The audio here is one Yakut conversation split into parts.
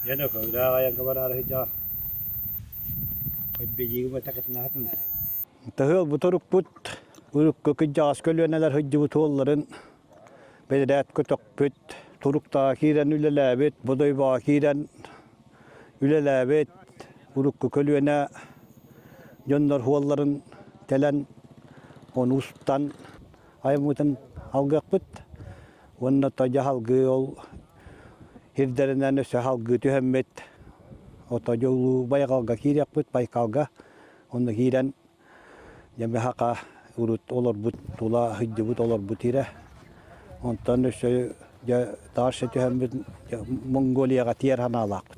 Дьэ, Өлөксөйдөөх айанга бараары сылдьаҕын. От билиигим атакытынаатын. Таһыал буторукпут урукку кырдьаҕас көлүөнэлэр сылдьыбыт уолларын бэдэрээткэ төхпүт, туруктаах киирэн үлэлээбит, Бодойбоҕо киирэн үлэлээбит урукку көлүөнэ дьоннор уолларын кэлэн, ону устан аймыытын алгыахпыт уонна тойо салгыы ол ирдэринэн өссө салгыы түһэммит отойо улуу байҕалга киириэхпит байкалга онно киирэн дьэбэхака урут олорбут тула сыдьыбыт олорбут ирэ онтон өссө дьэ таарша түһэммит монголияга тиэр ханаалаахпыт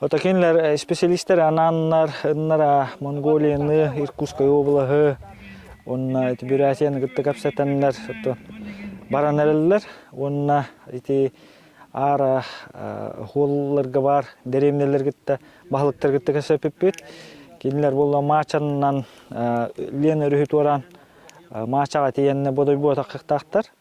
Отакинлар специалистары анааннар Монголияны, Иркутскай облаһы, уонна ити Бурятияны кытта кэпсэтэннэр баран эрэллэр уонна ити аара оһуолларга баар дэриэбинэлэр кытта баһылыктар кытта кэпсэппиппит. Кинилэр буолла маачаннан лен өрүһү туораан маачаҕа тиийэннэ бодойбуотахтаахтар.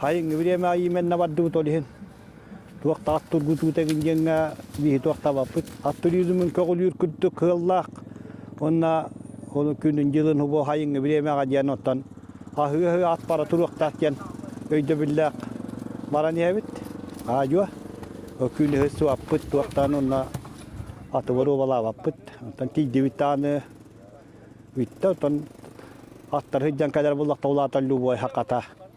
Хайыҥҥы время иимэннэ бардыбыт ол иһин туох да ат тургутуут эгин диэҥҥэ биһи туохтабаппыт. Аттырыылымын көҕүлүүр курдук кыаллаах уонна ол күнүн дьылын убо хайыҥҥы времеҕа диэн оттон аһыы-аһыы ат бара туруохтаах диэн өйдөбүллээх баран иһэбит. Аадьуо күн өһө суаппыт туохтаан уонна атыбар уобалаабаппыт. Оттон тиийдибит тааны бүттэ оттон аттары сыдьан кэлэр буллахта улааталлыы убой хаката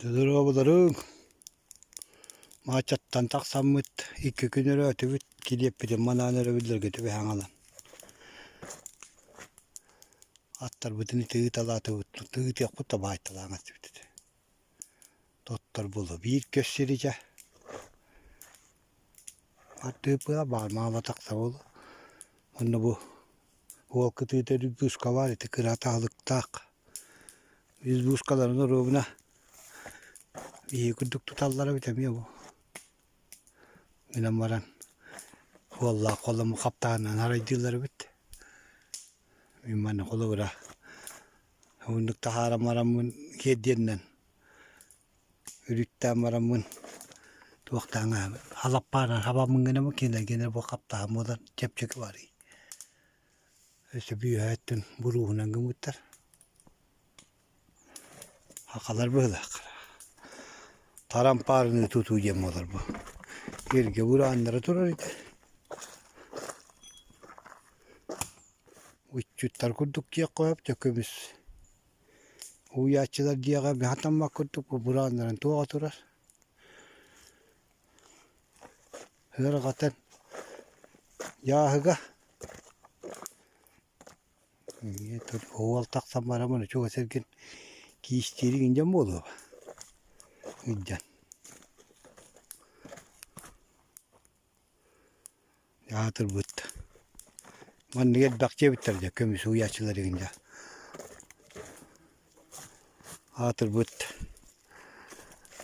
Додоруобуларыҥ маачаттан тахсаммыт икки күн өрөөтүбүт килиэппитин манаан өрөбүллэргэ түбэһэҥалан аттарбытын ити ыыталаатыбыт тыытыахпыт да баайталаан этибит Тотторбулу биир көссиритэ ардыыпыла баар маама тахсабыл онно бу уол кытыыта быыскалаан ити кыра атаалыктаах үс быыскаларын оруобуна биһиги курдук туталлара эбит эмиэ бу гынан баран уоллаах холому хаптаанынан арайдыыллар эбит мин манна холобура Уһуннук таһааран бараммын сиэрдиэнинэн үрүттээн бараммын туохтааҥ ааҕа халаппааран хабаммын гына кинилэр гына бу хаптаһын буолан чэпчэки барыы өссө бүөһэ өттүн буруоһунан гыммыттар хахалар быһыылаахтара тарампаарыныы тутуу диэн буолар бу эргэ бурааннара турар ити Ыччаттар курдук диэххэ сөп көбүс уһуйааччылар дьиэҕэ сатаммат курдук бырааннарын туоҕа турар ыарҕатын дьааһыга уол тахсан баран маны чугас эргин киистиириҥ индьэн буолуо индьэн Аатырбыт маннык элбэхчи эбиттэр дьэ көмүс уйааччылар игин дьэ аатырбыт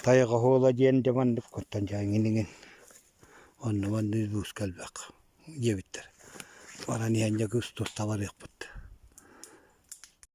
тайҕа оһуола диэн дьэ маннык оттон дьэ иҥин иҥин онно-манна улууска элбэх диэбиттэр баран иһэн дьэ кус тус табарыахпыт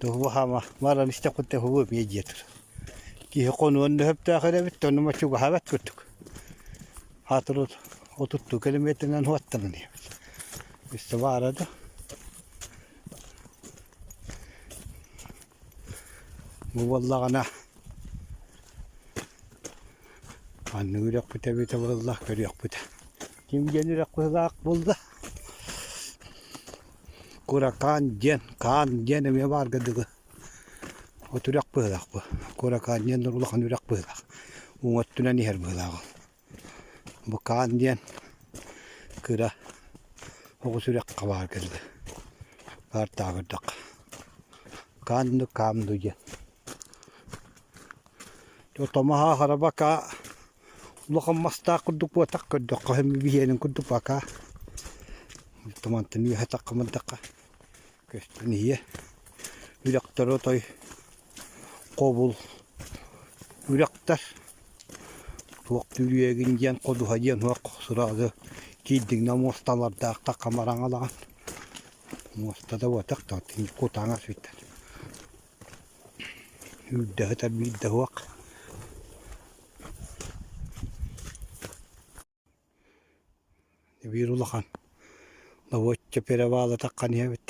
Туһугу хаама баран истэххүтэ уһугу эбиэ диэтэр. Киһи хонуон дөһөптөөх эрэбит, онно ма чугаһабат курдук. Аатыры отуттуу километрынан уһуттанан иһэбит. Үстэ баара да. Бу буоллаҕына манна үрэхпүтэ эбитэ буоллаах көрүөхпүтэ. Ким диэн үрэх быһылаах булда. Куракаан диэн, хаан диэн эмиэ баарга дылы от үрэх быһыылаах бу. Куракаан диэн улахан үрэх быһыылаах. Уҥа өттүнэн иһэр быһыылаах ол. Бу хаан диэн кыра оҕус үрэххэ баарга дылы. Баар таабырдахха. Хаан дуу, хаам дуу диэн. Томаһа, хараба, каа Улахан мастаах курдук буотах көрдөххө биһиэнин курдук бакаа. Тумантыны үөһэ-такка мырдахха көстүн ийэ. Үрэхтэр отой хобул үрэхтэр. Туох түрүөгүн диэн ходуһа диэн уһах сыраҕы киирдиҥнэ муосталардаах такка мараҥалаҕан. Муоста да буотах тартыҥ кутаҥас бүтэр. Үүрдэһитэ биирдэ уһуох Эбиир улахан добуочча перевалата ханиябыт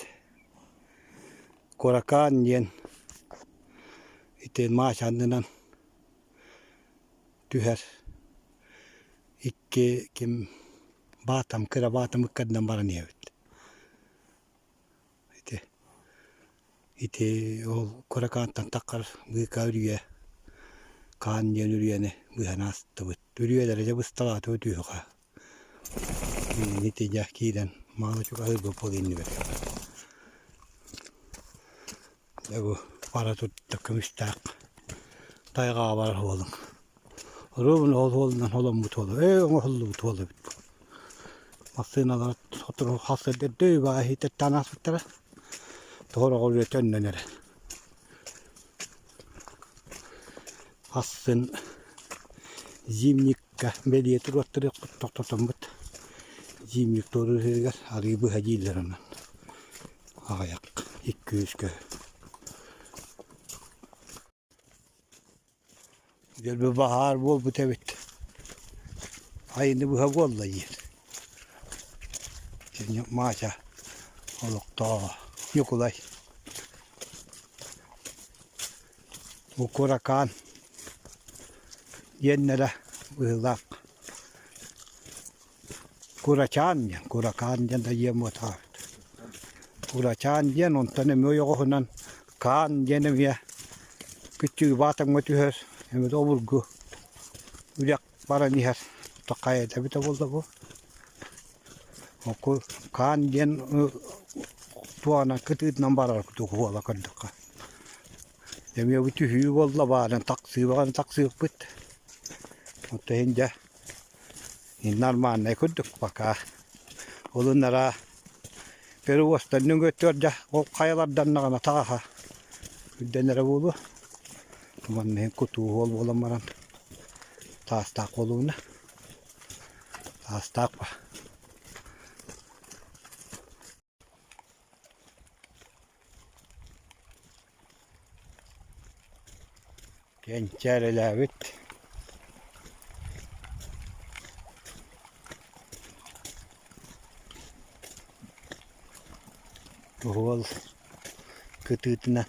Куракаан диэн ити маас аннынан түһэр икки ким Баатам кыра Баатамы кэннинэн баран иһэбит ити ити ол кыра хаантан таххар быыкаа үрүйэ хаан диэн үрүйэни быһан аастыбыт үрүйэлэрэ дьэ бысталаатыбыт үһү-хаа ити дьэ киирэн мааны чугаһыырбыт буолуо иннибэр Дьэ бу бара турда көмүстээх тайҕаҕа барар уолуҥ. Оруобун ол уолунан холоммут уола, ээ оҥоһуллубут уола эбит буо. Массыыналар сотору халсырдыыр дөй баҕа иһиитэртээн ааспыттара. Тоҕороҕор үөтэ өннөнөрө. Хассын зимник бэлиэ туруоттарыахпыт тохтотоммут дьиим Виктория ырыһыгар арыы быһа дииллэр онон аҕыйах икки үөскө дьөрбө баһаар буолбут эбит айыны быһа буолла диир кини Маача олохтооҕо Ньукулай Укуракаан диэннэрэ быһыылаах. Курачаан диэн, Куракаан диэн да ийэм утаабыт. Курачаан диэн онтон эмиэ ойоҕоһунан Каан диэн эмиэ кыччыыбаатаҥҥа түһэр, эмиэ да обургу. Үрэх баран иһэр. Ото хайата эбитэ буолла бу? Оку хаан диэн туһанан кытыытынан барар курдук буола көрдөххө. Эмиэ бу түһүү буолла баарын тахсыбаҕын тахсыппыт. Ото иһин дьэ нормальнай курдук пока. Улуннара перевозтан нөҥүөттүгэр дьэ ол хайаларданнаҕына таҕаһа үрдэнэрэ буолуо. Манныгы кутуу уол буолан баран таастаах буолууна. Таастаах ба. Кэнчээрэлээбит. Уол кытыытынан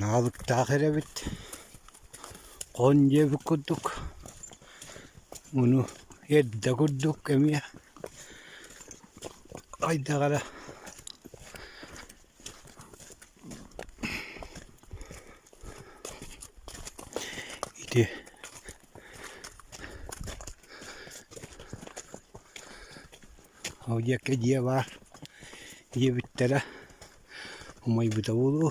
Наалыктаах эрэбит, хон диэбит курдук, ону эрдэ курдук эмиэ хайдах эрэ ити Авдеевка дьиэлээх ийэбиттэрэ умайбыта буолуо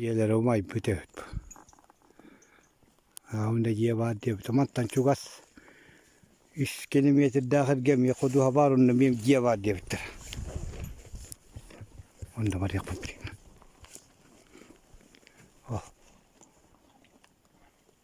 Ийэлэрэ умайбыт эбит аҕам да дьиэ баар диэбитэ мантан чугас үс километрдаах эргэ эмиэ ходуһа баар онно эмиэ дьиэ баар диэбиттэр онно барыахпын билигин ол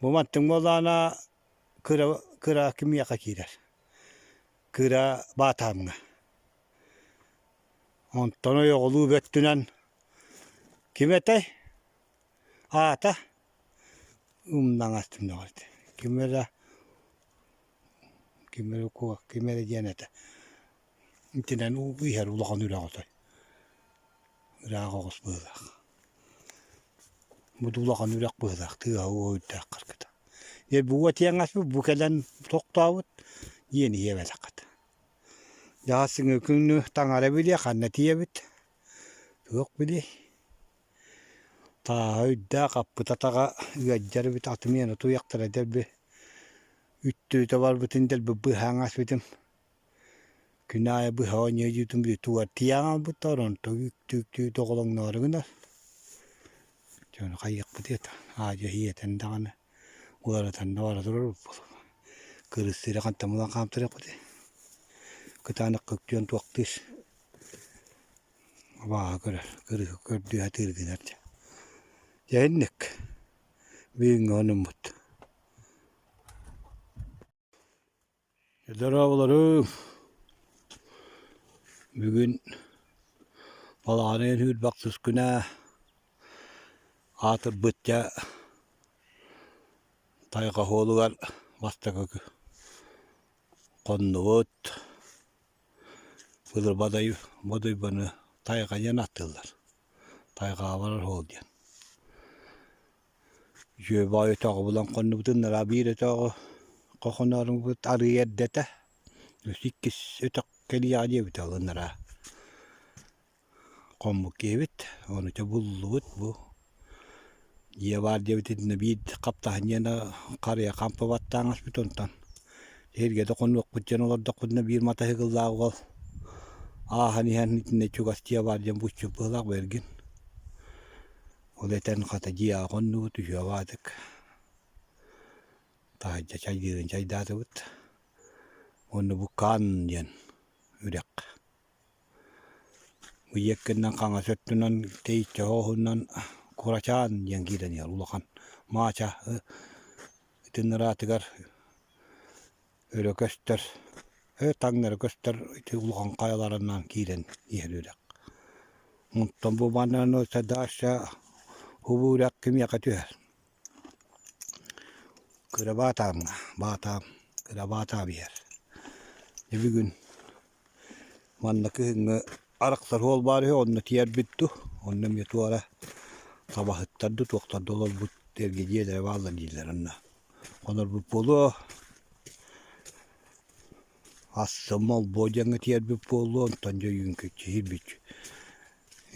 Бу маттык буоллаҕына кыра кыра кимиэхэ киирэр кыра баатаамҥа онтон ойоҕолуу бөттүнэн ким этэй аата умнаҥас ким эрэ Ким эрэ укуо, ким эрэ диэн этэ. Итинэн иһэр улахан үрэҕ отой. Ыраах оҕус быһыылаах. Бу да улахан үрэх быһыылаах, тыаһа-уоһа үрдээх харгыта. Бу тиэҥэспит бу кэлэн тохтообут, ийэни иэбэтэххит. Дьаҕас күҥҥү таҥара билиэ, ханна тиийэбит? Туох билиэй? Тааһа үрдээх аппыт атаҕа ыалдьар эбит атым иэнэ утуйахтара дэлби үттүтэ барбытын дэлби быһа аҥаспытым күн аайы быһа оонньуу дьиэтин тулартыйа хаалбыттар онтон үктүктүү доҕолоҥноро гынар дьону хайыахпытый это аа-дьуо ийэтин даҕаны уларытан да бара турарбыт кырыс сири хантан булан хаамтарыахпытый кытаанах көктүөн туохтуур абааһы көрөр кырыыһы көрдүү атыыр гынар дьэ дьэ инник бүгүҥҥү хонуммут дорооболоруҥ бүгүн балаҕаныйын үүр бахсыс күнэ аатырбыт дьэ тайҕа оһуолугар бастакы хоннубут Былырбадай Модуйбаны тайҕайан аттыыллар, тайҕаалар оһуол диэн. Дьүөбэ өтөҕү булан хоннубутун нара биир өтөҕү хохонооруҥбут арыый эрдэтэ, үс иккис өтөх кэлиэҕэ диэбитэ ол анараа. хоммут киэбит, онуча буллубут бу. Дьиэ баар диэбит итиннэ биир хаптаһынньыана харыйа хампа баттааҥаспыт онтон сиргэтэ хонуохпут диэн олордохпутуна биир матаһыгыллаах уол ааһан иһэн итиннэ чугас дьиэ баар диэн буччук быһылаах бэргин. Ол этэн хата дьиэ аҕа хоннубут үһүө баатык таһырдьа чайдыырын чайдаатыбыт. Онно бу Каан диэн үрэх Ийэккиннэн хаҥас өттүнэн киһиччэ оһуһунан курачаан диэн киирэн иһэр улахан маача итиннараатыгар өрө көстөр таҥнары көстөр ити улахан хайаларынан киирэн иһэр үрэх. Онтон бу манна сардааща убу үрэх кимиэхэ түһэр Кырабаатаамҥа баатаам, кырабаатаам иһэр. Дьэ бүгүн манна кыһыҥҥы арахсар уол баар үһү, онно тиийэрбит дуу, онно эмиэ туора табаһыттар дуу, туохтар да олорбут эргидьиэлэрэ бааллар дииллэр онно. Хонорбут буолуо, ас-сым молбуо диэҥҥэ тиийэрбит буолуо, онтон дьэ ойуун кичиһирбит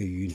ойуун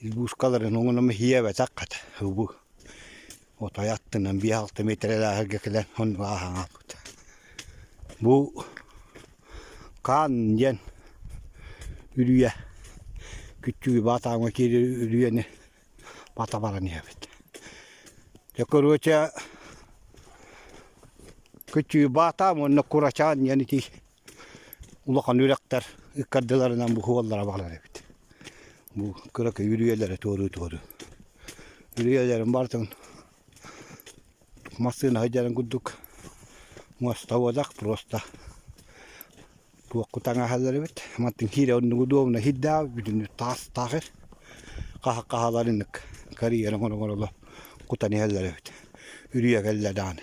Избуускаларын уҥунума хиэбэтэх хат убу отой аттынан биэс алта метрэлээһэргэ кэлэн оннуга аһаҥаппыт. Бу хаан диэн үрүйэ күччүгү баатааҥҥа киири үрүйэни бата баран иһэбит. Дьэ короче күччүгү баатаам уонна курачаан диэн ити улахан үрэхтэр ыккардыларынан бу уоллара баалар эбит. Бу кыракый үрүйэлэри туоруу-туоруу. Үрүйэлэрин барытын массыына сылдьарын курдук мостоводах просто туохку таҥаһалар эбит. Мантан киирэ оннугу дуомуна хирдаа бүтүнү таас таахыр хаһа хаһаларыннык карьерын оноҥороло кутан иһэллэр эбит. Үрүйэ кэллэ даҕаны.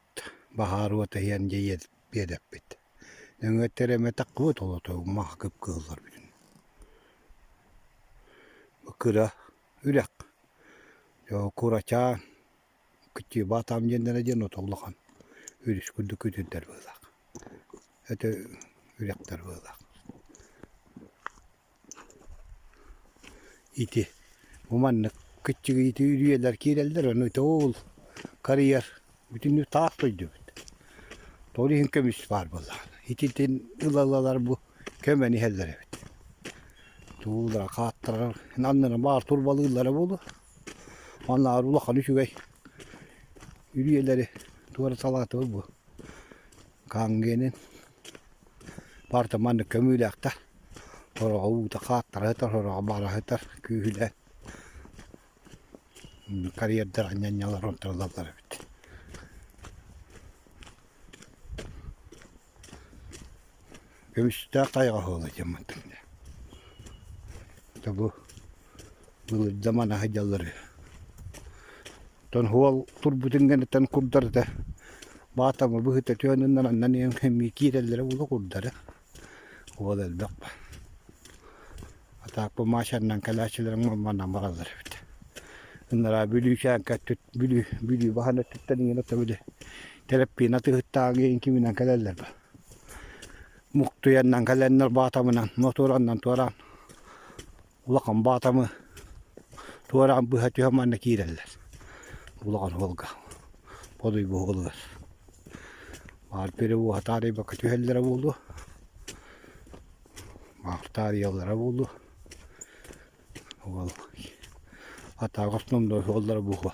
Баһаар уот иһэн дьэ иэдэппит. Өҥүөттэр эмэтэххибит олотугума кып кыылларбытын. Кыра үрэх. Дьэ курачаан кытчыыбаатаам диэннэрэ диэн ото улахан үрүс курдук күтүрдэр быылаах. Өтө үрэхтэр быылаах. Ити бу маннык кыччыгыйытыы үрүйэлэр киирэллэр, ону ити ол карьер бүтүннүү таах дойдубут. Тоҕо иһин көмүс баар буоллаҕына. Ититин ыла-ылалар бу көмөнү иһэллэр эбит. Туулара, хааттара аннынан баар турбалыыллара буолуо. Аннары улахан үчүгэй үрүйэлэри туора салаатыбыт бу Каангенин Барда манна көмүүлээхтэр, сороҕо уута хааттарыһытар, сороҕо бараһытар, күүһүлээн карьердара ньанньалар онтуралаллар эбит Көмүстээх хайаҕа оһуола дьаммыттым дэ. Тобу Былыргы манаһы дьаллары. Оттон уол турбутун гыныттан курдар да, баатама быһыта төөнүннэн аннан эмиэ киирэллэрэ ула курдара. Уол элбэх ба Атааппы Маачаннан кэлээччилэрин мамманнан бараллар эбит. Ынараа Бүлүүчээҥкэ өттүт Бүлүү Бүлүү баһан өттүттэн иҥэн ото били Тэлэппиинэ тыһыттааҕы иһин киминэн кэлэллэр ба. Муктуйаннан кэлэннэр баатамынан мотуораннан туораан улахан баатамы туораан быһа түһэ манна киирэллэр улахан уолга подуй буһулугар баар пире буола таарыйбакка түһэллэрэ буолуо баар таарыйаллара буолуо уол атааҕа основной уоллара буһуо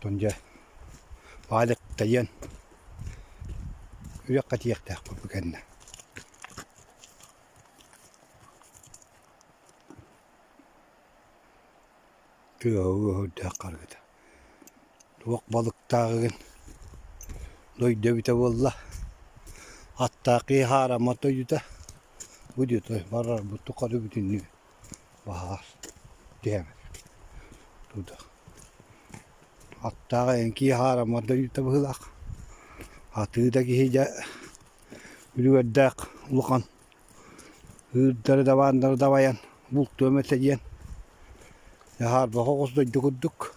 Оттон дьэ баалык тайыан үрүөххэ тиийиэхтээхпит бу кэннэ. тыаһа үөһүрдээх харгыта. Туох балыктааҕыгын дойду эбитэ буолла, аттаах киһи хаараммат дойдута, бу дьиэ барарбыт тухары бүтүннүү баһаар тиэмэт туда. Аттаах эн киһи хаараммат дойдута быһыылаах. Атыы да киһи дьэ үлүгэрдээх улахан Ыырдары дабаандары дабайан бултуом этэ диэн Дьаһаарбаҕа оҕус дойду курдук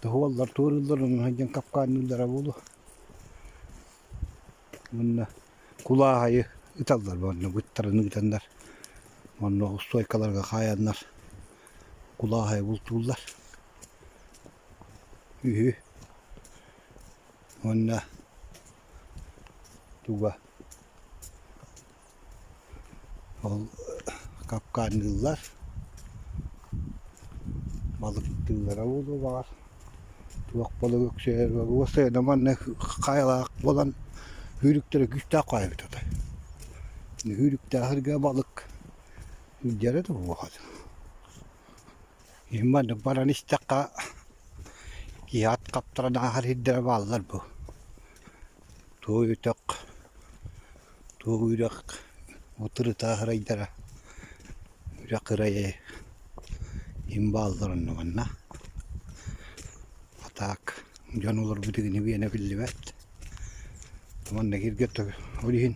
тоһуаллар туорууллар онон сылдьан капкаанныыллара буолуо уонна кулааһайы ыталлар уонна быттарын ыытаннар уонна устуойкаларга хаайаннар кулааһайы бултууллар үһү уонна Туга ол капкаанныыллар, балыктыыллара буолуо баҕар, туох балыгы өксөйөр уопсайа да манна хаайылаах буолан үүрүктэрэ күүстээх хаайбыт отой. Үүрүктээх эргэ балык сылдьара да буолуо хат. Маннык баран истэххэ киһи ат хаптаран ааһар сирдэрэ бааллар бу. Туo үтөх, туo үрэх утырыта ырайдара үрэх ырайы им бааллар оннуганна. Атаак дьон олорбут игини биэнэ биллибэт. Манна киргэ ол иһин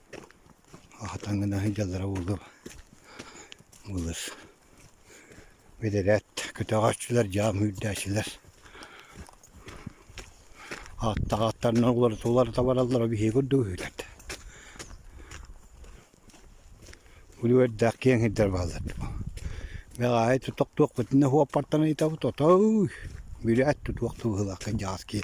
Таҥынаһы дьалара буолуо былыр бэдэрээт көтөҕөөччүлэр дьаам үүрдээччилэр ааттаах ааттарынан уларыта бараллара биһиги курдук үүнэр били үөрдээх киэҥ сирдэр бааллар бэҕааһы тутук туохпутун да уоппартан ыйытабыт отооуй били эт тутуох тубуһулааххын дьаҕас киһи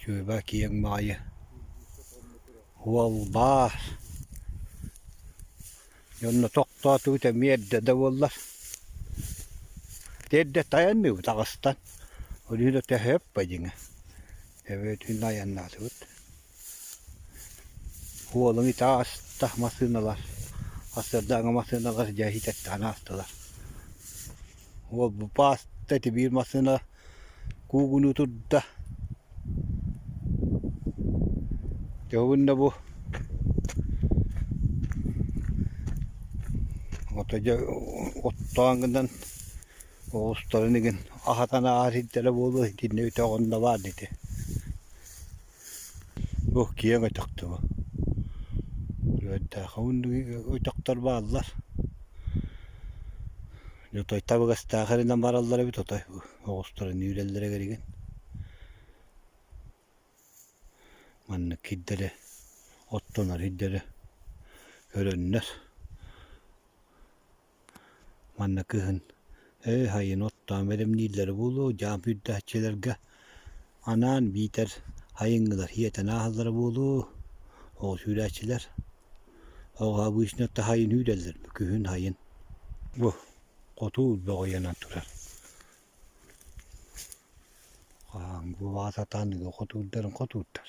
Сүөбэ киэҥ баҕайы уолбаар дьонно тохтоотубут эмиэ эрдэ да буоллар эрдэ тайан биһиэбит таҕыстан ол иһин да төһө өппө дьиҥэ эбэтин айаннаатыбыт Уолум ити ааста массыыналар, сарсыарда аҕа массыыналар дьээһи тэттэҕинэ аастылар. Уол бу бааста ити биир массыына куугунуу турда. Дьоһунна бу. Ото дьэ оттоон гынан оҕустарын игин аһатан ааһар иһиттэрэ буолуо итиннэ үтэ оҕонно баар ити Бу киэҥ өтөх дуо? Өтөхтөрүн өтөхтөр бааллар. Отой табыгастаах эрэнэн бараллар эбит отой оҕустарын үүрэллэрэ кэригин. Маннык кирдэрэ оттонор ирдэрэ көрөннөр Манна кыһын ээ хайын оттоон бэлэмнииллэрэ буолуо, дьаам үрдээччилэргэ анаан биитэр хайыҥҥылар иэтэн ааһаллара буолуо, ол сүүлээччилэр оҕо обычно таһайан үүрэллэр күһүн хайын. Бу хотуур бөҕүйэнэн турар. Хаһааҥ бу баҕа сатаан хотуурдарын хотуурдар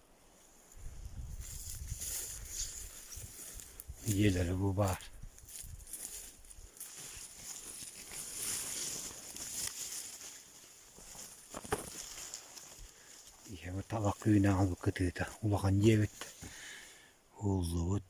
ийэлэрэ бу баар ийэбэ таба кыынаабыт кытыыта улахан ийэбит ууллубут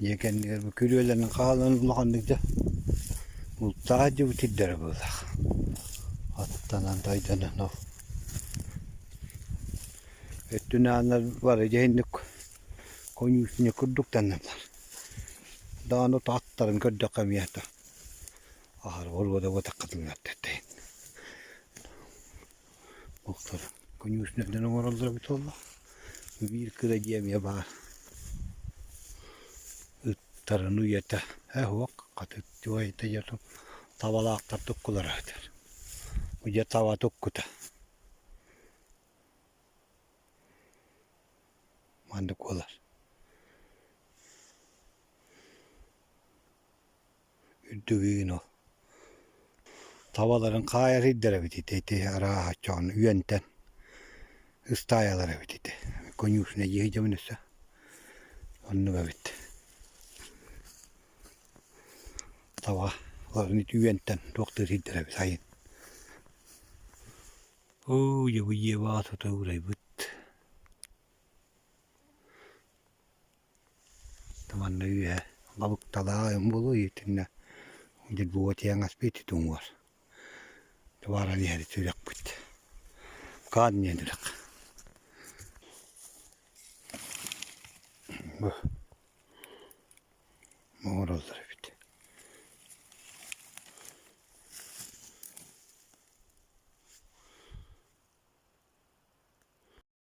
Дьиэ кэннигэр бу күрүөлэрин хаалан улаханнык да бултаах иһдьибит ирдэрэ буоллах. Аттанан дайданан ол өттүн ааннар бары дьэһинник коньюшник курдук таннаннар даҕаны ото аттарын көрдөххө эмиэ ата аһара боруода буотахха тыынар тэттэ Буктар конюшнердары оҥороллоро буталла. Биир кыра дьиэ эмиэ баар. Ыттарын уйата, ээ уһук, хатыттыы уйата дьонум табалаахтар туккулара сытар. Дьэ таба туккута. Маннык буолар Үрдүбүүнү табаларын хаайарыйдар эбит ити, ити арааһа чоон үөнтэн ыстаайалар эбит ити, конюшнайы дьэбин өссө оннук эбит. Табаларын ити үөнтэн туохтатыйдар эбит сайын. Оо дьэ бу дьиэ баҕа туту урайбыт. Манна үөһэ балыкталаах ойон буолуо итиннэ дербуга тиэҥэс биити туҥуор тубааран иһэри сүрэхпит хаан диэн үрэх бу оҥороллор эбит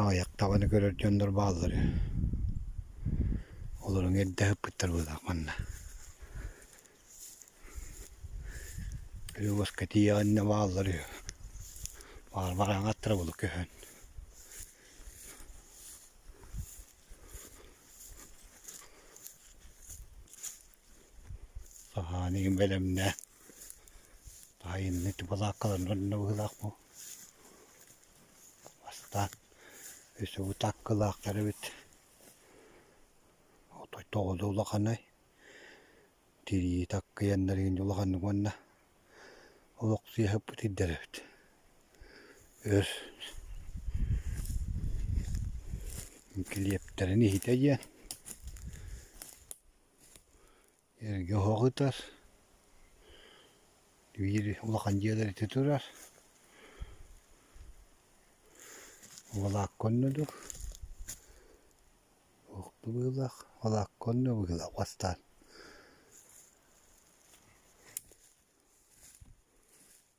аҕыйах табаны көрөр дьоннор бааллар олорун эрдэ ыппыттар быылаах манна Любовка тиийэҕиннэ бааллар үһү баар бараҥ аттара булу көһөн саһаан иһин бэлэмнэ таайынны тубалааккаларын онно быһыылаах бу Бастаан үсүгү таккылаахтар эбит. Отой тоҕо да улаханай. Тирии таккыйаннар игинде улаханнык уонна олох сыыһаппыт ирдэр эбит. Өр килиэптэрин иһитэ диэн эргэ оһох ытар, биир улахан дьиэлэр ити турар, волокко оннодук, туох быһыылаах, волокко онно быһыылаах бастаан.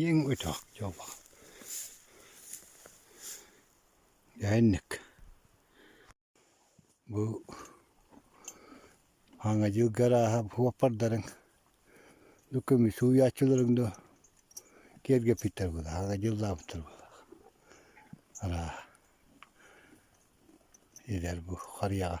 Иэҥ өтөх дьоло дэһэнник бу ааҥҥа дьылга арааһа уоппардарын ну көмүс сууйааччыларын да киэргэппиттэр буоллар ааҥҥа дьыллаабыттар буоллар арааһа эдэр бу харыйаҕа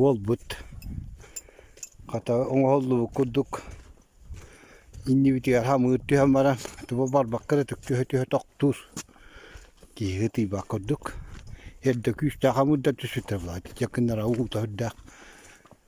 Уолбут, хата оҥоһуллубут курдук, иннибитигэр хамыыр түһэн баран, туга барбакка да түксүһэ-түһэ тохтуур, тииһи ытыйбат курдук, эрдэ күүстээх хамыыр да түспүттэр былай, итиччэ гыннара уута үрдээх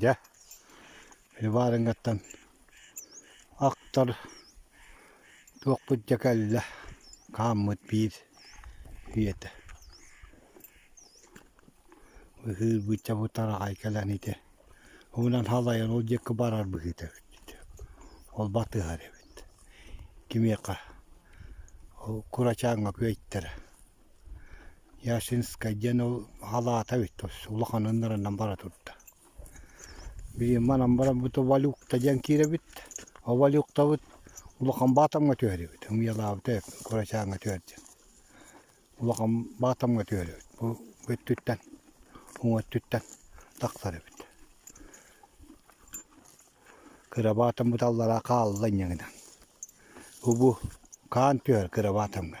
Дьэ, Иварингаттан ахтар туохпут дьэ кэллэ хааммыт биир үйэтэ. Быһыыр бычча бутараҕай кэлэн ити уһунан халайан ол диэки барар быһыыта эбит ити. Ол батыһар эбит. Кимиэхэ ол курачааҥҥа күөйтэрэ. Ясинскай диэн ол халаата эбит тус улаханын нарынан бара турда манан бараммыт Валюкта диэн киирэбит ол Валюктабыт улахан Баатамҥа түһэрибит Ымыйалаабыта курачааҥҥа түһэр диэн улахан Баатамҥа түһэрибит бу өттүттэн уҥа өттүттэн тахсар эбит кыра Баатаммыт аллараа хаалла инньэ гынан убу хаан түһэр кыра Баатамҥа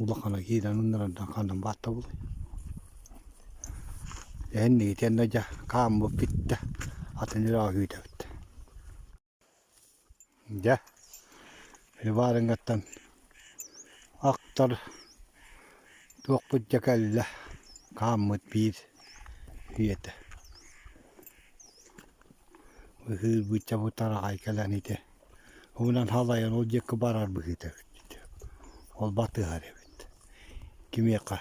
Улахана киирэн ынырардан ханан бааттабылай эһин Микитиэннэ дьэ хааммыт бүттэ атын эрэ күүтэбит дьэ Иварингаттан ахтар туохпут дьэ кэллэ хааммыт биир ийэтэ быһыы бычча бу тараҕай кэлэн ити Уунан халайан ол диэки барар быһыыта эбит. Ол батыһар эбит. Кимиэхэ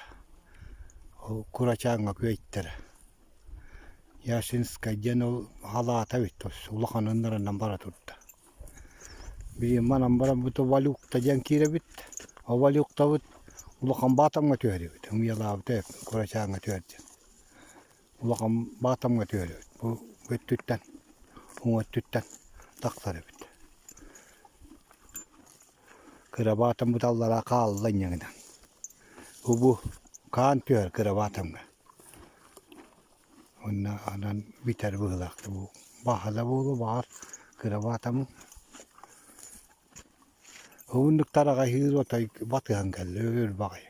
ол курачааҥҥа күөйтэрэ. Яшинскай диэн ол халаата эбит улаханын нарынан бара турда. Билигин манан баран бу Валюкта диэн киирэбит. Ол Валюктабыт улахан Баатамҥа түһэрибит. Умуйалаабыта курачааҥҥа түһэр диэн. улахан баатамҥа түһэрбит бу өттүттэн уҥа өттүттэн тахсар эбит кыра баатам быталлара хаалла инньэ гынан бу хаан түһэр кыра баатамҥа уонна анан бүтэр быһыылаахтар бу баһа да буолуо баар кыра баатамы уһуннук тараҕаһыыр отой батыһан кэллэ өр баҕайы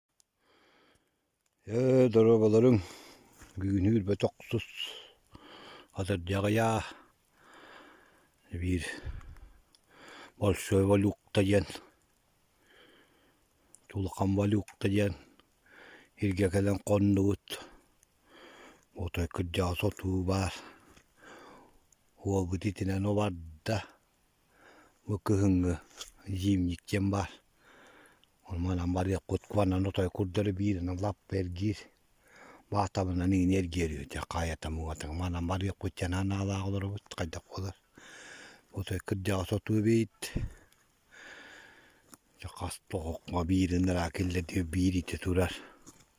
Ээ доруобаларыҥ бүгүнү билбэтэх тус атырдьаҕыйаа биир большой валюта диэн улахан валюта диэн иргэ кэлэн хоннубут отой кырдьаҕас отуу баар уолбут итинэн убарда Бу кыһыҥҥы зимник диэн баар. Ону манан барыахпыт куонан отой курдары бииринэ лаппа эргиир. Баатабынан иини эргиэриэти хаайатамыгатык манан барыахпыт диэн аналаах олоробут хайдах буолар. Отой кырдьаҕас отуу эбийит. Дьэ хас тоҕоххо биирин ыра киллэ диэ биир ити турар.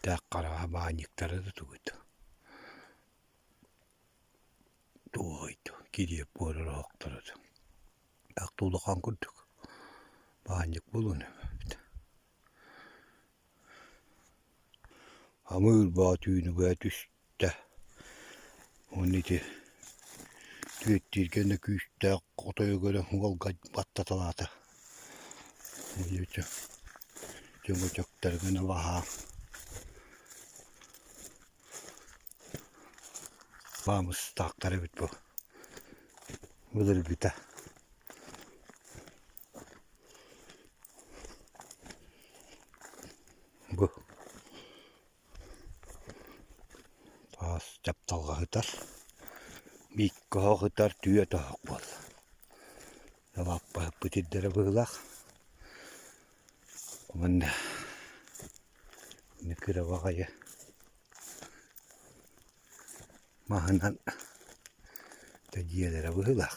Тээх хараҕа баанньыктара да тугуй да Туоһуй да кириэп буолар оһохторо да Ахта улахан курдук баанньык булуна эбит Хамыыр Боотуунуга түс эттэ уонна ити түөттииргэ күүстээх хотойуга эрэ уолга баттаталаата уонна ити чөҥөчөктөрүгүн ылаһа баамыстаахтар эбит бу былыргыта бу Таас дьапталга ыытар, бииккэ оһох ытар, түөрт оһох буолла. Лаппаһыппыт ирдэрэ быһыылаах. Уонна кыраба аҕайы маһынан да дьиэлэрэ быһыылаах.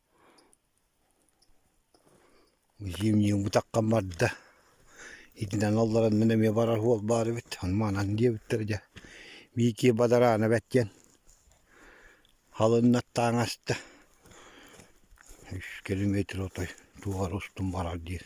Зимние утахха барда, итинэн олорон мин эмиэ барар уол баар эбит, ону маанан диэбиттэрэ дьэ Миикиэ Бадараанап диэн халыҥнар таҥ аста, үс километр отой туора устун барар диэн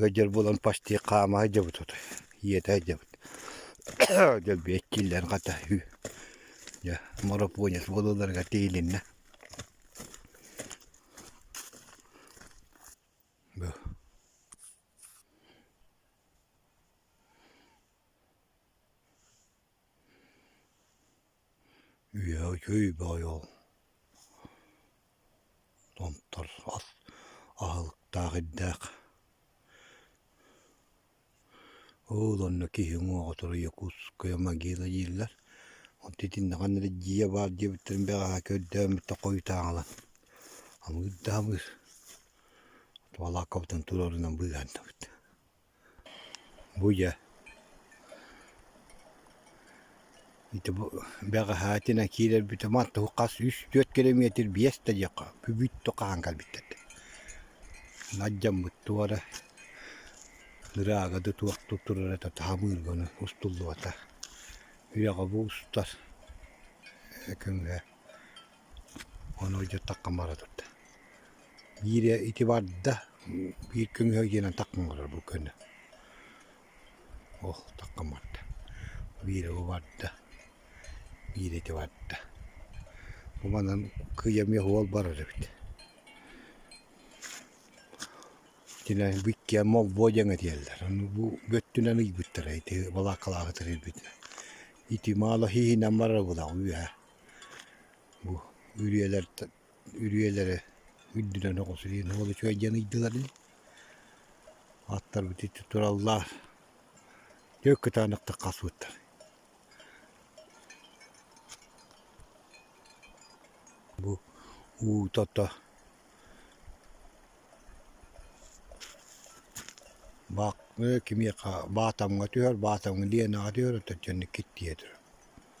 Ыалдьар буолан пастих хаама сылдьабыт отой, ийэтэ сылдьабыт дьөлбүйэ иччиллэн хата үһү дьэ марафонец буолалларыгар тиийилиннэ Үөһүтүүй бөҕөйөҕө Томтор ас аһылыктаах ирдээх Ол онно киһи уҥуоҕутугар Якутская могила дииллэр Онту итиннэ ханна эрэ дьиэ баар диэбиттэрин бэҕэһээ көрдөөхмүттэ хойутаан ылан Хамыыр да хамыыр Туолааккабытын туруорунан быыһаан эттибит Буйа ити бу бэҕэһээтинэ киирэрбит манна туһу хас үс түөрт килэмиэтир биэс да диэххэ бүбүттүк хаһан кэлбиттэр дии. Наддьаммыт туора ыраагады туох да турарата таһамыырга ону устуллубата. Үйэҕэ бу устар көҥүлэ Ону ыйдаттахха бара турда. Биири ити барда, биир көҥүһэ диэнэн тахсан олорор бу көнө. Ол тахсан барда. Биири бу барда, биири ити барда. Буманан кыйа эмиэ уол барар эбит. Итинэ биккиэн молбуо диэн этиэллэр. Ону бу бөттүнэн ыйбыттара ити балааккалааһы тирийбитинэн. Ити маала хииһинэн барар была үһэ. Бу үрүйэлэртэн үрүйэлэрэ үрдүнэн оҕусуйан уол үчүгэй диэн ыйдылар ини. Аттарбыт иччи тураллар. Дьэ кытаанахтык хасбыттар. Бу уутата баак кимиэхэ баатамҥа түһэр баатамҥа лиэнаҕа түһэр оттон киттиэ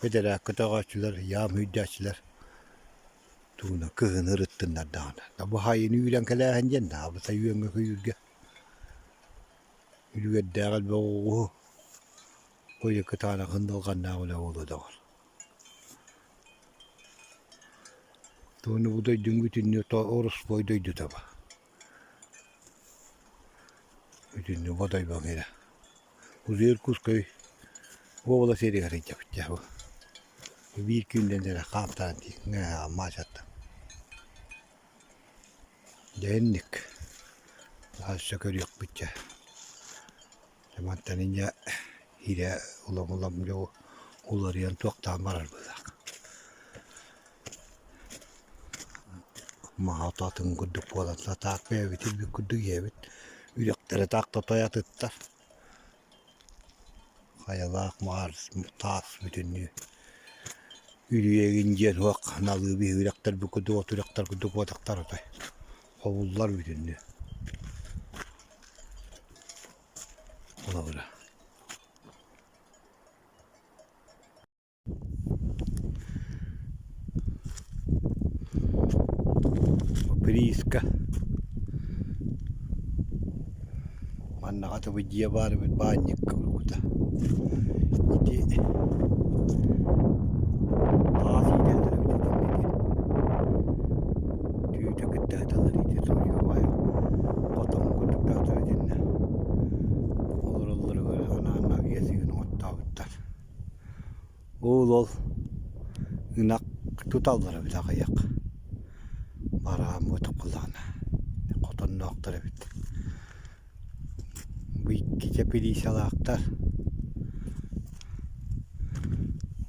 Бэдэрээккэ өтөҕөөччүлэр, яам өйдөөччүлэр тууна кыһыны ырыттыннардаҕына, «Табыхайыны үүрэн кэлээһин» диэн Наабыса үөҥҥэ көйүүргэ Үлүгэрдээх элбэх оҕуһу куйа кытаана хындалҕаннаах үлэ буолуо доҕор. Тууну бу дойдуҥ бүтүннүү ороспуой дойду таба. Итиннэ Бодойбоҥ иһэ Узел Иркутской уобалас иһигэр сылдьабыт биир күнүнэн эрэ хаамтаран маачаттым дьэ инник хаһыс да көрүөхпүт дьэ мантан инньэ иирэ улам-улам дьэ уларыйан туохтаан барар быһыылаах маһа ото атын курдук буолан сатаакка ийэбит илбит курдук ийэбит үрэхтэрэ таахта тойатыттар хайалаах маар таас бүтүннүү үлүйэгин диэн туох налыы биһи үрэхтэр бу курдук от үрэхтэр курдук буотахтар отой ховуллар бүтүннүү холобура поприиска Маннаҕа дылы дьиэ баарбыт баанньыкка уруккута ити аас иитэллэрэ эбитэ итиннэ ити түүтэ кытта сыталлар ити судьуобай хотоҥҥо курдуктаатылар итиннэ олороллоругар анаан авиасыгын оҥоттообуттар Уул-ол ынах туталлара били аҕыйах. Бараан буотуккалаана хотонноохтор эбит. Бу иккитэ пилиисалаахтар.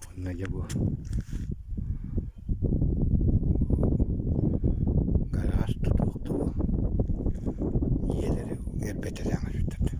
Онно дьэ бу гараж тутуохтугу ийэлэри эрбэтэрэ өҥөтүттэр.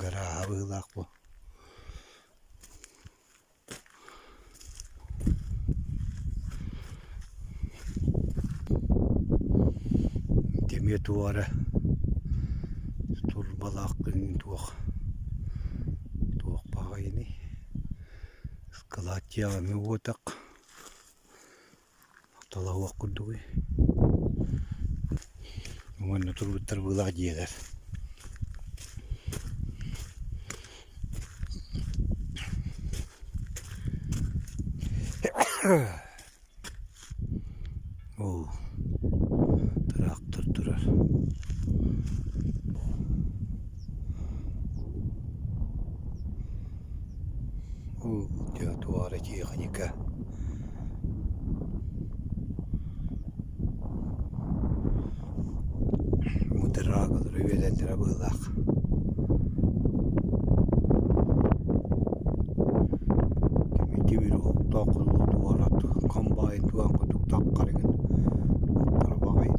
Гарааһа быһыылаах буо дэмиэ туох эрэ турбалаах күн туох туох баҕайыный ыскылааттыйаҕа эмиэ уотах Талаһыах курдугуй уонна турбуттар быылаах дьиэлэр оо тыраахтар турар Ол театуара тиэхиньикэ мудрагалары үөлэллэрэ быһыылаах тимир уһуктаах кулуу туорат комбайн туох кутук таххарыгын аттара баҕайыт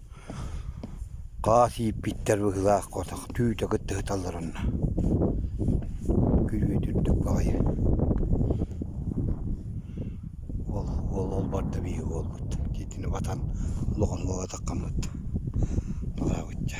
Хаас ииппиттэр быһыылаах котох түүтэ кытта сыталларын күлүөт үрдүк баҕайы ол ол ол барда биһиги уолбут дьиэтин убатан улахан уол атаххаммыт налаабыт дьэ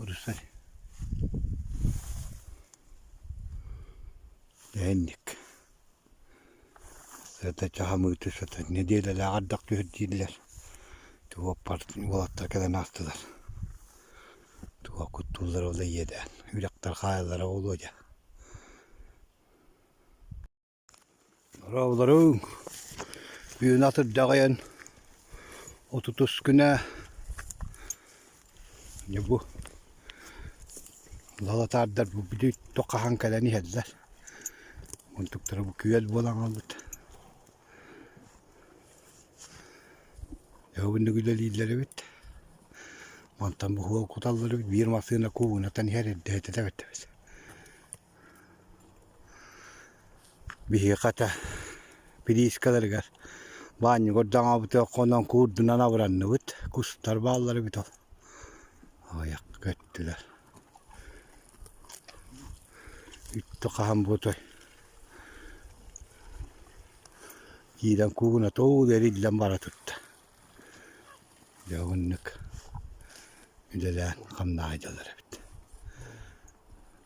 Курусай дээнник сата чаһамыыты сата нэдиэлэлээх ардах түһэрдииллэр уоппартан уолаттар кэлэн аастылар туга куттууллара ол иэдээн үрэхтэр хаайаллара буолуо дьэ Дорооболоруҥ. Үөнэ атырдьаҕайан отутускүнэ бу лалатаардар бу били туох хаһан кэлэн иһэллэр мунтуктара бу күөл буолан хаалбыт өһүгүннүк үлэлииллэр эбит мантан бу уол куталлар эбит биир массыына куубунатан иһэр эрдэ этэ да бэрдэ эбит Биһиги хата плиискаларыгар баанньыгы ордоҥообутугар хонон куурдунан абыранныбыт. Кустар бааллар эбит ол. Аҕыйах көттүлэр. Үттэ хаһан буолуой? Киирэн куугуната уу эриллэн бара турда. Дьэ оннук үлэлээн хамнаһыйдылар эбит.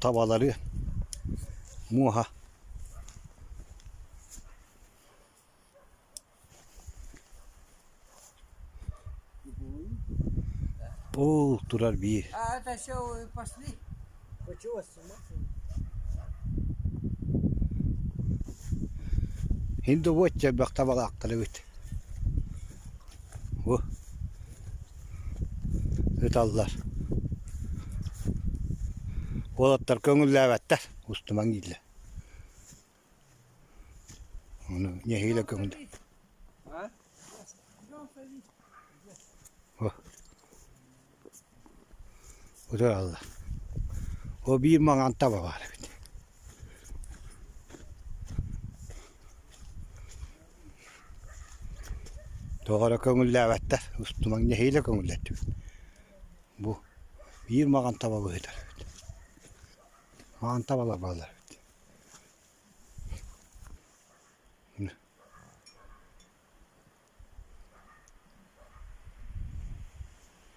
табалары муоһа ол турар биир инде уотча бөх табалаахтар эбит ыталлар. Уолаттар көҥүллээбэттэр, устумаҥ ииллэр. Ону нэһиилэ көҥүллэ. О. Утараллар. О биир маҥан таба баар эбит. Тоҕо эрэ көҥүллээбэттэр, устумаҥ нэһиилэ көҥүллэттибит. Бу биир маҕан таба быһыытар эбит. Маҕан табалар баалар эбит.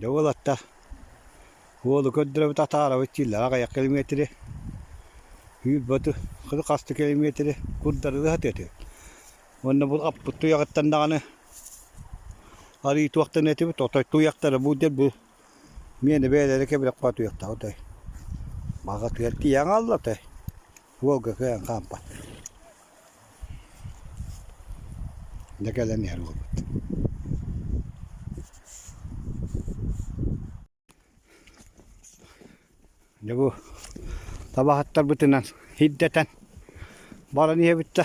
Дьэ уолатта уолу көрдөрөбүт атаарабыт чииллээх аҕыйах километри үүрбаты хоту хасты километри курдарыы сатыа этэ уонна бу аппыт туйаҕыттан даҕаны арыы туохтан этибит отой туйахтара бу диэн бу миэнэ бэйэлэрэ кэбирэх баа туйахтаах отой баҕатыгар тиийэн хаалла отой Волга кыайан хаампат. Да кэлэн иһэр буолбут. Дьэ бу табаһыттарбытынан hirдэтэн баран иһэбит да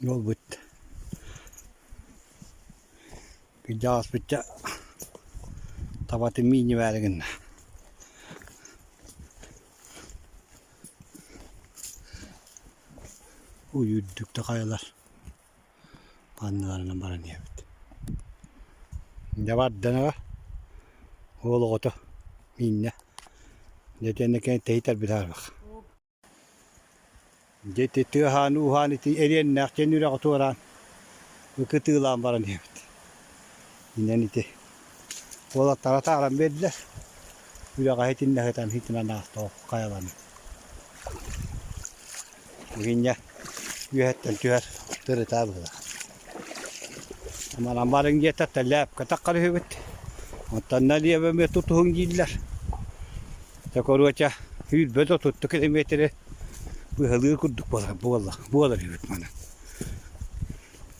Буолбут. Күндэ ааспычча табатын миини бээри гынна. Уйуурдук да хайалар Анныларынан баран иһэбит. Дьэ бардынага уол оҕото Инна дьэ итиэннэ кини тэһитэрбит аһарбах. Дьэ ити тыаһаан ууһаан ити эриэннээх дьиэни үрэҕи туораан ыкытыылаан баран иһэбит. Инэн ити уолаттара тааран биэрдэ. Үрэҕи иһитиннэ сытан иһитинэн аастаҕа хайаларын. Игинньэ үөһэттэн түһэр тырыта быһыыла. Манан барыҥ диэтэхтэ лээпкэтэх харыһыбыт. Оттон налево эмиэ тутуһуҥ дииллэр. Такоруоча үүрбэт отутта километри быһалыы курдук буолар буоллар буолар үһүт манан.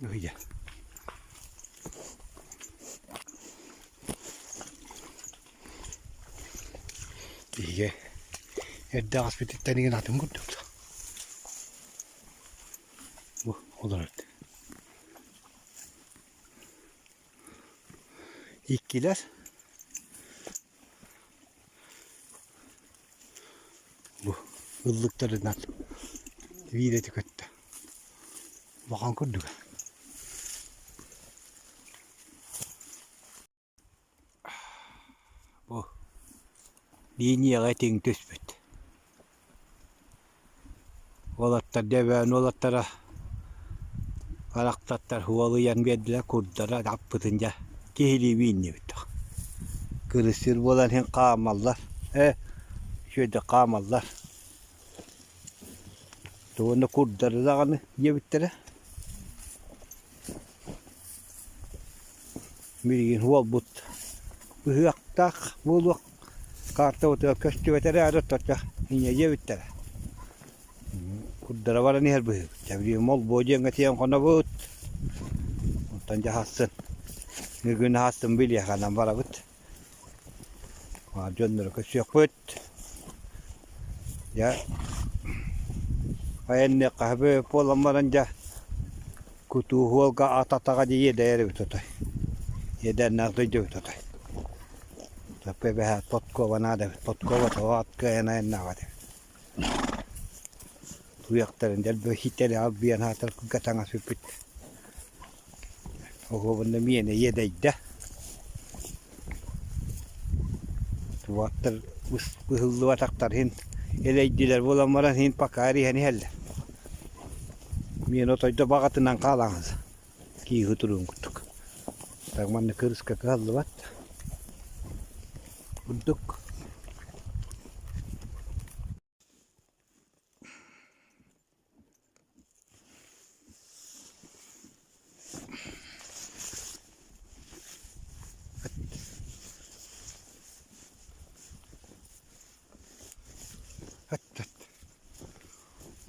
Ыйа. Биһиги эрдэ аспититтан иген атын курдук. Бу олор өттө. Иккилэр бу ыллыктарынан видеоти көттө улахан курдуга бу линияҕа тиҥ түспүт Уолаттар дьэ Өймөкөөн уолаттара барахсаттар уолуйан биэрдилэр курдары аппытын дьэ киһилии үүннүбүт кырыссыыр буолан иһин хаамаллар ээ үчүгэйдик хаамаллар уонна курдары даҕаны диэбиттэрэ билигин уолбут ыһыахтаах буолуох Карта утуйа көстүбэт эрээри, отторго иньэйиэ бүттэрэ. Курдара баран иһэр быһыыбыт. Чэбириим олбуо диэҥҥэ тиийэн хонобут. Оттон дьаһастын, бүгүн аһастын билиэхэнэн барабыт. Баар дьонноро көрсүөхпүт. Дьэ, айанныах хаһы буолан баран дьэ, Кутууһуолга ат атаҕа дии иэдэйэрбит отой. Иэдээннээх дойдубут отой. Топпо эбэһээт подкова наада эбит. Подкова тоҕо ат кыайан айаннаах этэ. Туйахтарын дэлби хитэлэ албыйан аатар кылга таҥас бүппүт. Оһуобунна миэнэ иэдэйдэ. Уоттар быһыллыбатахтар иһин элэйдилэр буолан баран иһин пакаары иһэн иһэллэр. Миэнэ отойдо баҕатынан хаалаҕын кииһи туруун курдук. Так манна кырыска кыһаллыбат. Курдук.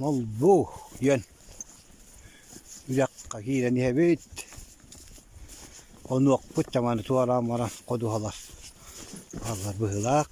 Молбу диэн үрэххэ киирэн иһэбит. Онуохпут чаманы туораан баран ходуһалар бааллар быһыылаах.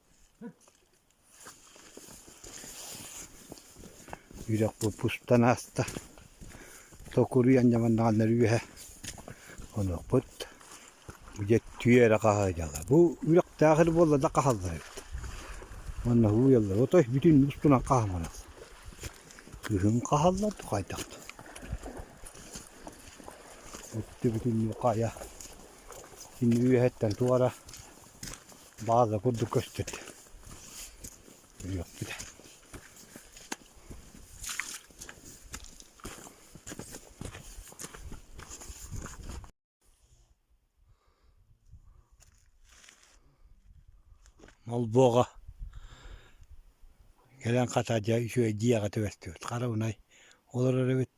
Үрэхпут устан ааста. Токуруйан ньаманнаҕаннар үөһэ онуохпут. Дьэ түө эрэ хаһаайдалар. Бу үрэхтээхэр буолла да хаһаллар эбит. Манна уйаллар. Отой бүтүн устунан хаһаманах. Кыһын хаһаллар да хайдах да. Үттү бүтүннүү хайа. Итинни үөһэттэн туора Баҕа да курдук көспүт. Үһүөхпүт. Молбоҕа кэлэн хата дьэ үчүгэйдии аҕа түбэстибит хараунай олорор эбит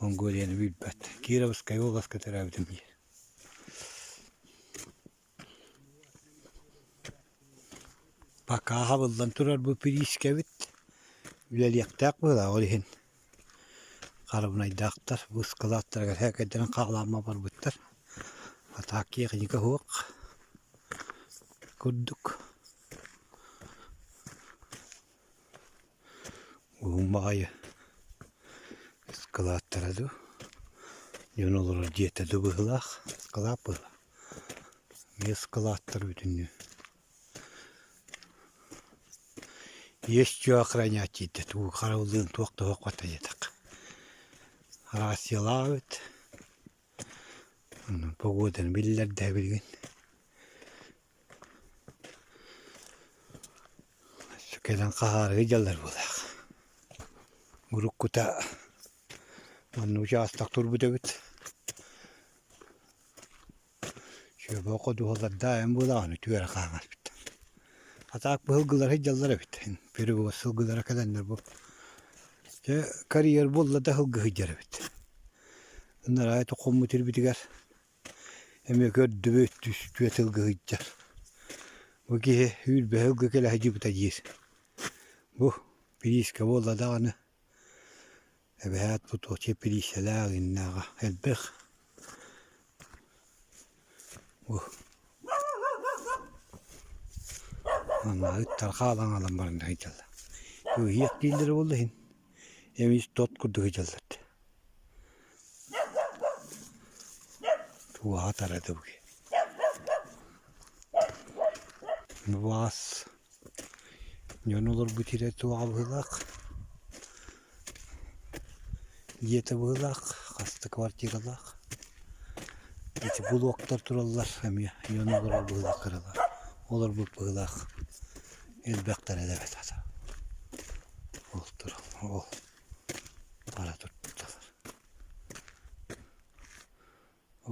Монголияны билбэт. Кировскай областка төрөөбүтүм диир. Пакааһа буллан турар бу пирискэбит үлэлиэхтээх быһыылаах ол иһин харабынайдаахтар бу ыскылааттарыгар һээкэйдэрин хаалаама барбыттар. А так техника суох курдук. Уһун баҕайы ыскылааттара дуу, дьон олорор дьиэтэ дуу быһыылаах, ыскылаат быһыылаах. Эмиэ ыскылааттар бүтүннүү. Есть-что охранять диэтэ, уу харабыллыын туох да суохпата диэтэх. Арассыйалаабыт, погоданы биллэр да билигин. Кэлэн хаһаарыы дьаллар буолаах. Уруккута манна учаастак турбут эбит. Чүөбэ ходуһалардаайын буолаахын үтүөрэ хаамаспыт. Атаак быһылгылары дьаллар эбит. Перевоз сылгылара кэлэннэр бу. Дьэ, карьер буолла да сылгы сылдьар эбит. Ынараа тоххоммут ирбитигэр эмиэ көрдүбүт түстүө тылгыһыйдьар бу киһи үүрбэһэ ылга кэлэ садьыбыта диир бу пилииска буолла даҕаны эбэһээт потуоча пилииссэлээх иннээҕэ элбэх бу маннааҕы тархаалаан ылан баран сыдьалла кыыһыйах дииллэрэ буолла иһин эмис тот курдук сыдьаллар Убаҕа таратыбыт убаҕас дьон олорбут сирэ туоҕа быһыылаах дьиэтэ быһыылаах хаста квартиралаах ити блоктар тураллар эмиэ дьон олорор быһыылаах кыралаах олорбут быһыылаах элбэхтэрэ да эбэтэ ол турал ол бара турбуттар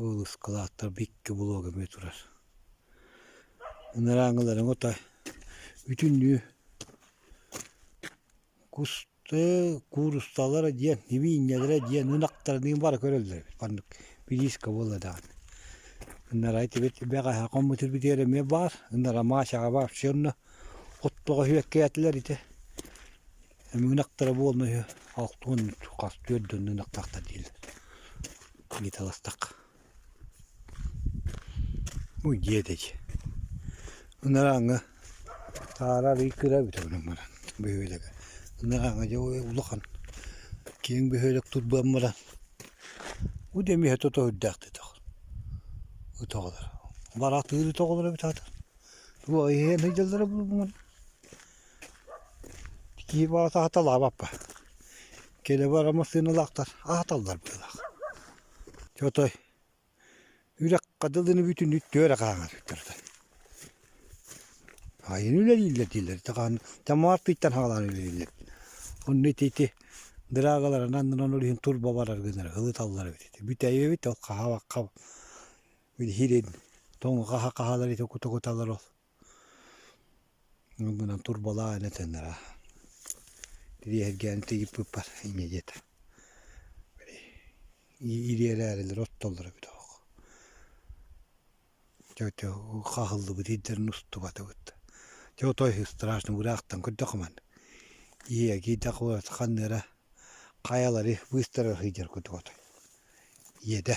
ол ыскылааттарбы икки блок эмиэ турар ынарааҥыларыҥ отой бүтүннүү кусты куурусталара диэн нибиинньэлэрэ диэн ынахтарыныын бары көрөллөр эбит маннык бириискэ буолла даҕаны ынарай тибит бэҕэһээ хоммутун бүтүөр эмиэ баар ынара Машаҕа вообще онно оттоҕо үөккээтилэр ити Өҥүнэхтэрэ буолна үһү алтуон хас түөрт дьонно ынахтаахтар дииллэр ыйыталастахха Уй диэдэй ынарааҥҥа таара арыый кыра эбитэ быдан баран бөһүөлэгэ ынарааҥҥа дьэ улахан киэҥ бөһүөлэк турбан баран бу дэмиһэ тото үрдээхтик ытах ыталлар бараатыыр ыталлар эбит аата туох иһэн сылдьаллара буолуҥун Киһи баҕата аһаталаабаппа. Кэлэбэр массыыналаахтар аһаталлар быһыылаах. Чэ отой үрэххэ дылыны бүтүнү түөрэ хаһаҥарбыттар отой. Хаайыыны үлэлииллэр дииллэр ити хаан Тамаар тыыттан хаалаары үлэлииллэр. Онно ити ити дыраагаларын аннынан ол иһин турба барар гыннар ылыталлар эбит ити. Бүтэйэбит ол хаһаабакка били иһирин тоҥу хаһа хаһалар ити кута куталар ол. Ол гынан турбалаан этэннэр ириэһиргээн тигиппиппар инньэ диэтэ ириэрээрилэр оттоллоро эбитэ оһох чэ ити хаһыллыбыт ирдэрин устубатыбыт чэ отой страшно быраахтан көрдөххө манна ийэ киирдэх ханна эрэ хайалары быстарар сылдьар курдук отой ийэтэ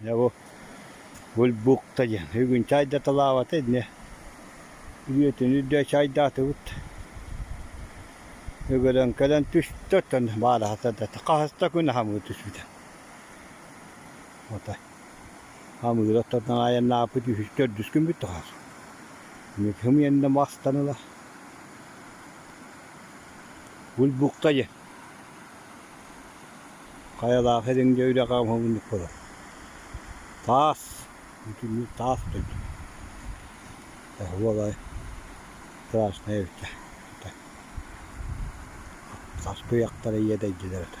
Дьэ бу бульбукта диэн бүгүн чай да талаабата иннэ илиэтин үрдэ чайдаатыбыт өгөрөн кэлэн түстэ оттон баараһата да хас да күн хамыы түспүтэ ото хамыыр оттон айаннааппыт үһүс төрдүс күн бүттэ хымыйанна махстаныла бульбукта диэн Хайалаах эриҥдэ үрэҕэ оҥоһулунньук буолар. Таас, бүтүннүү таас дойду. Эһэ буолай красная эбитэ. Саскы ыйахтара ийэ дэйдилэр этэ.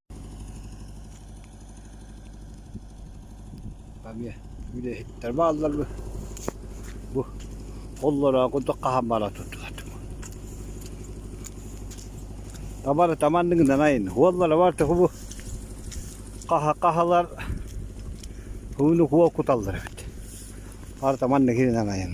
эмиэ үлэһиттэр баалларбы бу холлороох курдук хаһан бара турдулар табарыта маннык гынанайын уоллара барта бу хаха хаһалар ууну куо куталлар эбит барыта маннык гынанайын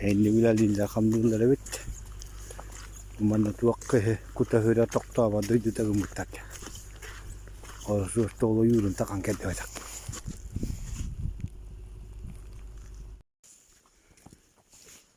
Иннибинэ Лиза хамныыллар эбит манна туох кута-сүрэ тохтообот дойдута гыммыттар дии ол суоттаах ойуурун такан кэлбэтэх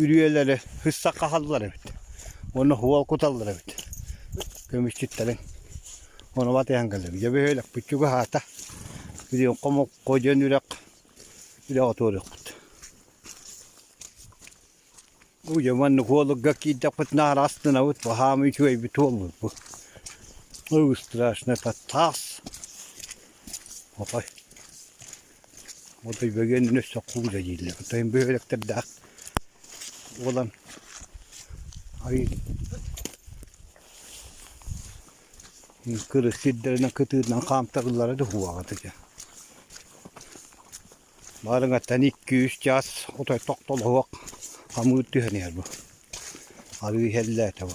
үрүйэлэри һыссах хаһаллар эбит уонна һуол куталлар эбит көмүсчүттэрин онуба тыйан кэлэбит дьэ бөһүөлэкпит чугаһаата күрүөҥхэ мокко дьон үрэх үрэх отуоруохпут дьэ маннык уолугга киирдэхпит наар астынабыт баһаама үчүгэйбит уолбут бу ой страшный тас опай Отой бөгөн өссө кууса дииллэр. Оттон бөһүөлэктэрдээх буолан кырыс сирдэринэн кытыытынан хаамтарыллара да уһуоҕа ити. Баарыҥаттан икки-үс чаас отой тохтолоһуох хамыыр түһэн иһэр бу. Арыы иһэллээтэ бу.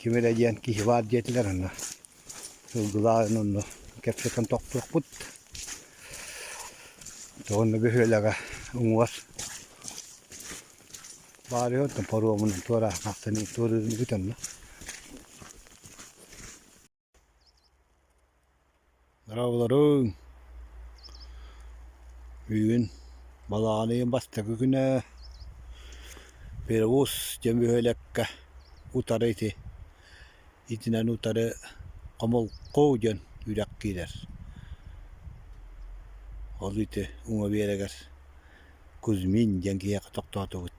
Ким эрэ диэн киһи баар диэтилэр аны сылгылаан онно кэпсэтэн тохтуохпут. Онно бөһүөлэгэ уҥуор баарыйа оттон паромунан туораан тахсан туоруурун бүтэн Дорооболоруҥ! Бүгүн балаҕаныйым бастакы күнэ. Перевоз дьэ бөһүөлэккэ утары ити итинэн утары хомолку диэн үрэх киирэр. Ол ити уҥа биэрэгэр Кузьмин диэн киһиэхэ тохтоотубут.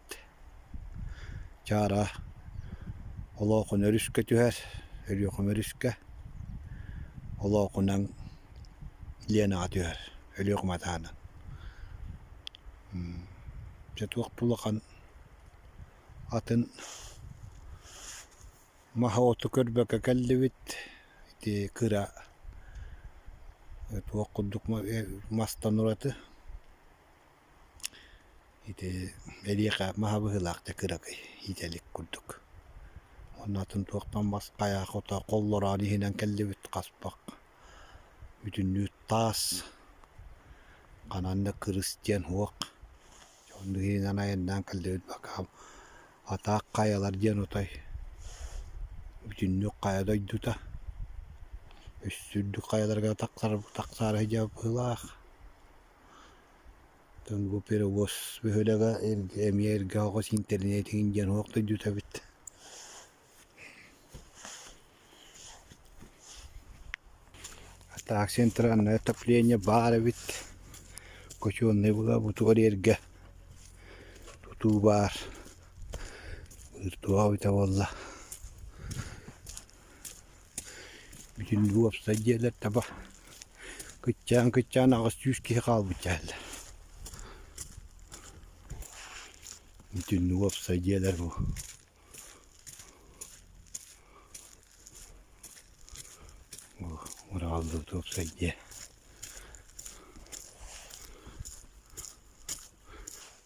Чаара олоохун өрүскэ түһэр, өлүөхүм өрүскэ олоохунан Ленаҕа түһэр өлүөхүм атаанын. Дьэ туох да улахан атын маһы-оту көрбөккө кэллибит ити кыра туох курдук мастан ураты Ити эриэхэ маһа быһыылаахтык ыракый иитэ илик курдук. Онно атын туохтан бас хайа хото холлороон иһинэн кэллибит хаспах, бүтүннүү таас, ханан да кырыс диэн уох. Онно иһинэн айаннаан кэллибит бакаам атаах хайалар диэн утай бүтүннүү хайа дойдута үс үрдүк хайаларга тахсар тахсаары сидьиэп быһыылаах. бу перевоз бөһүөлэгэ эмиэ эргэ оҕус интэринээтин диэн уһук дойдута эбит так центральное отопление баар эбит хочуоннай буутугар эргэ тутуу баар виртуал эбитэ буолла Бүтүн уопсай дьиэлэр таба кыччаан-кыччаан аҕыс сүүс киһи хаалбыт дьэһэллэр Бүтүн уопсай дьиэлэр бу Урааллыбыт уопсай дьиэ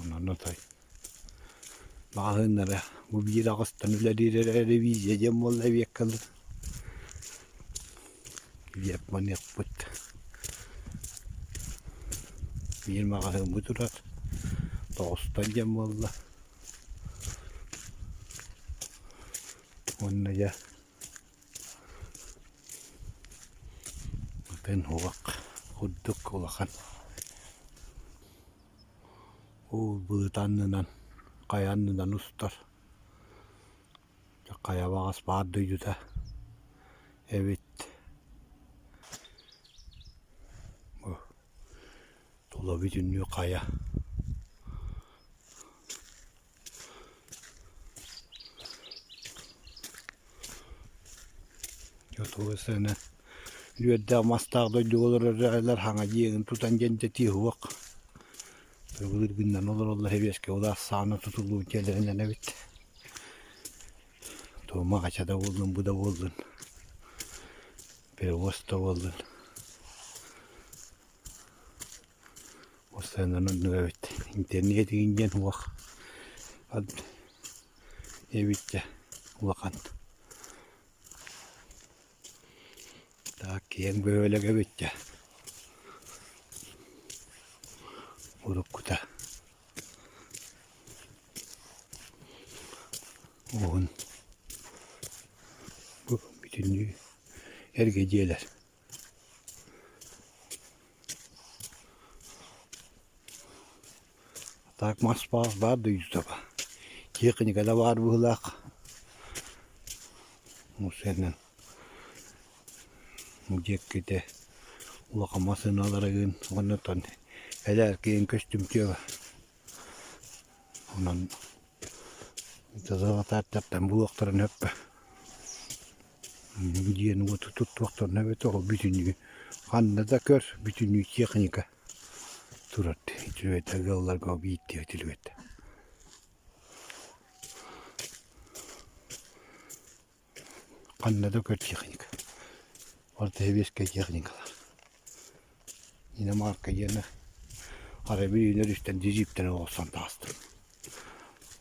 Онон отой маҕаһыыннары бу биир аҕыстан үлэлиир эрэ ревизия диэн буолла эбиэт кэллин диэп маныахпыт биир маҕаһыын бу турар тоҕустан диэн буолла уонна дьэ Атын уһак курдук улахан уу быыт аннынан хайа аннынан устар хайа баҕас баар дойдута эбит тула бүтүннүү хайа Отуга сыана үөрдээх мастаах дойдуга олорор эрэллэр хаҥа дьиэгин тутан дьэндэтии уһук тыргылыыр гыннан олороллор сэбиэскэ ол ахсаана тутуллубут дьиэлэринэн эбит туома хача да буоллун бу да буоллун перевоз да буоллун Постоянно оннук эбит. Интернет игин диэн уох эбит дьэ улахан. Так киэҥ бөһүөлэк эбит дьэ. Уруккута уһун бүтүннүү эргэ дьиэлэр Так Москва баар да Юсова тиэхиньикэлэ баар быһыылаах ол сэринэн диэккитэ улахан массыыналара ыын оннуттан элээркиин көстүмтүө онон дьазаҕатааттартан булуохтарын өппө Инники дьиэни уоту туттуохтарына эбэтэр ол бүтүннүү ханна да көр бүтүннүү техника турар үчүгэйдик ыалларга биирдии түлүгэтэ ханна да көр техника ортоэбиэскэй техникалар инэ маарка диэни арай били үнэр үстэн дьидьииптэн олорсон таҕыстым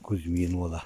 Кузьмин уола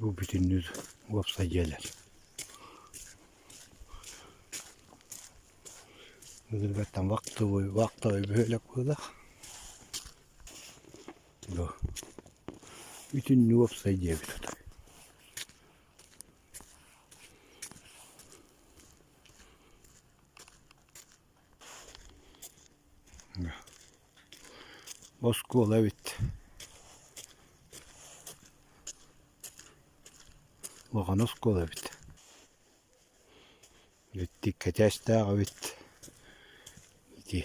Бу бүтүннүү уопсай дьиэлэр. Былыргаттан вахтовой, вахтовой бөһүөлэк буолар. Бу бүтүннүү уопсай дьиэ эбит отой. Оскуола эбит улахан оскуола эбит Итти кэтээстээх эбит ити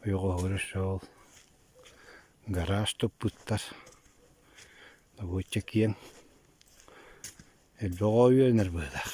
ойоҕоһугар шоол гараж туппуттар добуочча киэҥ элбэх оҕо үөрэнэр быһыылаах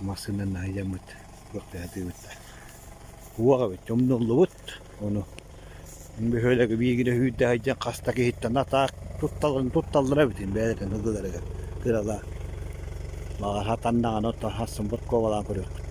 Массыына наадьаммыт, туох да атыыбыттар. Уох эбит, умнуллубут ону. Бөһүөлэги биһигини үүрдэһэйдиэн хас да киһиттэн атаах тутталларын тутталлара эбитин бэйэлэрин ылыыларыгар кыралаан. Баҕар, хатан даҕаны оттон хассын подкобалаан көрүөхпүт